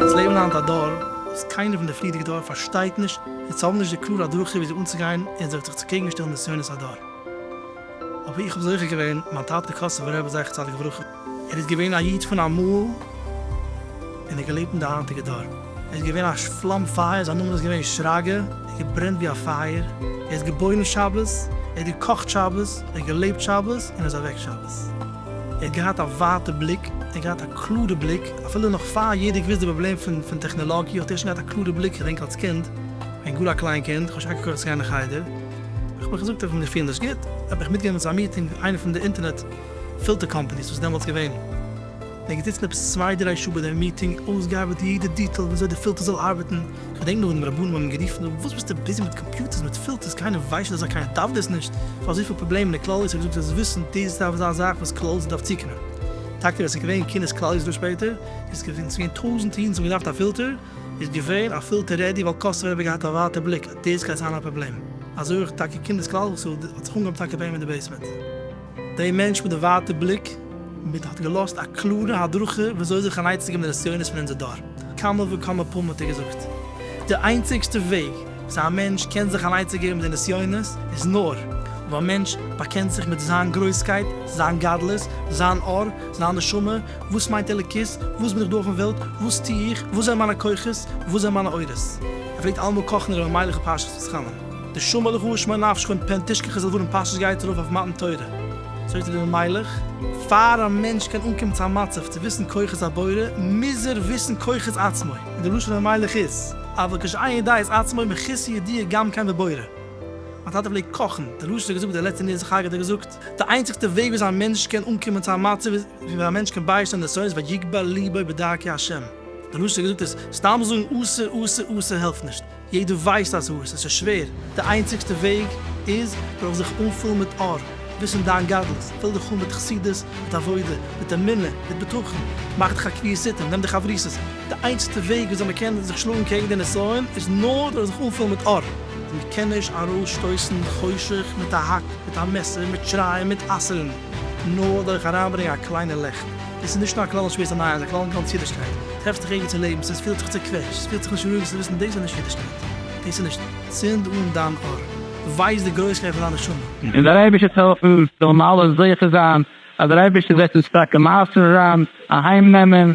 אונז לעבן היינט א דור וואס קיינער פון די פריערדיגע דור פארשטייט נישט און זיי האבן נישט די קלארע הדרכה ווי אזוי אנצוגיין און אזוי זיך צו קעגנשטעלן נסיונות הדור. אבער איך האב זוכה געווען מיין טאטן קאסובער רבי זכר צדיק לברכה, ער איז געווען א איד פון אמאל און האט געלעבט אין די היינטיגע דור. ער איז געווען א פלאם פייער, זיין נאמען איז געווען שרגא, ער האט געברענט ווי א פייער, ער איז געבוירן שבת, ער האט געקאכט שבת, ער האט געלעבט שבת און איז אוועק שבת. ער האט געהאט א ווייטע בליק, ער האט געהאט א קלארע בליק, אפילו נאך פאר יעדער געוואוסט די פראבלעם פון טעכנעלאגיע האט ער שוין געהאט א קלארע בליק, כ'דענק אלס קינד, כ'בין גאר א קליין קינד, כ'האב שוין אנגעקויעכט צו גיין אין חדר, האב איך געזאגט איך בין זיך פיל נישט גוט, האב איך מיטגענומען צו א מיטינג איינע פון די אינטערנעט. פילטער קאמפאני איז עס דעמאלטס געווען, מ'איז געזיצן עפעס צוויי דריי שעה ביי דעם מיטינג, אויסגעארבעט יעדע דיטעל וויאזוי די פילטער זאל ארבעטן, כ'געדענק נאך ווען די רבנים האבן גערופן דא, וואס ביסטו ביזי מיט קאמפיוטערס מיט פילטערס, קיינער ווייסט נישט אזא קיינער דארף דאס נישט, פאר אזויפיל פראבלעמען אין כלל ישראל, געזאגט אז וויסן דאס דארף זיין א זאך וואס כלל ישראל דארף צוקומען, טאקע ווען עס איז געווען כינוס כלל ישראל שפעטער, איז געווען ס'געווען טויזענטע אידן ס'האבן געדארפט א פילטער, איז געווען א פילטער רעדי ווייל קאסטנער האבן געהאט א ווייטע בליק אז דאס גייט זיין א פראבלעם, אזוי אויך טאקע כינוס כלל ישראל האט זיך אנגעהויבן טאקע בעימען די בעיסמענט. דער מענטש מיט די ווייטע בליק מיט האט געלאזט א קלארע הדרכה וויאזוי זיך אנייצצו געבן די נסיונות פון אונזער דור. כמה וכמה פעמים האט ער געזאגט, די איינציגסטע וועג וויאזוי א מענטש קען זיך אנייצצו געבן די נסיונות איז נאר אויב א מענטש באקענט זיך מיט זיין גרויסקייט, זיין גדלות, זיין אור, זיין נשמה, וואס מיינט אלוקות, וואס בין איך דא אויפן וועלט, וואס טו איך, וואס זענען מיינע כוחות, וואס זענען מיינע אורות. ער פלעגט אלעמאל קאכן ר' אלימלך פרשת ותחנון. די שמא לך ושמא נפשך און פן תשכח איז לדברים פשוט גייט ארויף אויף מתן תורה. זאגט דער מלך. פאר א מענטש קען אנקומען צו א מצב צו וויסן כוחות הבורא מוז ער וויסן כוחות עצמו, און די לשון המלך איז, אבל כשאין ידע את עצמו מכיסו ידיע גם כן בבורא. מיין טאטע פלעגט קאכן, דער ראש האט געזאגט, דער לעצטע נר איז חג האט ער געזאגט, די איינציגסטע וועג וויאזוי א מענטש קען אנקומען צו א מצב איז ווי א מענטש קען ביישטיין די סודות ויגבה ליבו בדרכי השם, דער ראש האט געזאגט אז סתם זאגן אסור אסור אסור העלפט נישט, יעדער ווייסט אז הארץ עס איז שווער, די איינציגסטע וועג איז דורך זיך אנפולן מיט אור, וויסן דיין גדלות, פיל דיך אן מיט חסידות, מיט עבודה, מיט אמונה, מיט בטחון, מאך דיך א קביעות עתים, נעם די חברותות, די איינציגסטע וועג וויאזוי מען קען זיך שלאגן קעגן די נסיון איז נאר דורך זיך אנפולן מיט אור. מען קען נישט ארויס שטויסן חושך מיט א האק, מיט א מעסער, מיט שרייען, מיט אסר'ן. נאר דורך אריינברענגען א קליינע לעכט. דאס איז נישט נאר א כלל אין שווערסטע נייעס, איז א כלל אין גאנץ אידישקייט. טרעפסט זיך ערגעץ אין לעבן, ס'איז פילט זיך צעקוועטשט, ס'פילט זיך נישט רואיג, זאלסט וויסן, דאס איז נישט אידישקייט. דאס איז נישט. צינד אן דיין אור. ווייז די גרויסקייט פון דיין נשמה. און דער אייבערשטער'ס העלפן זאלן מיר אלע זוכה זיין אז דער אייבערשטער וועט אונז טאקע מייסר זיין, אהיים נעמען,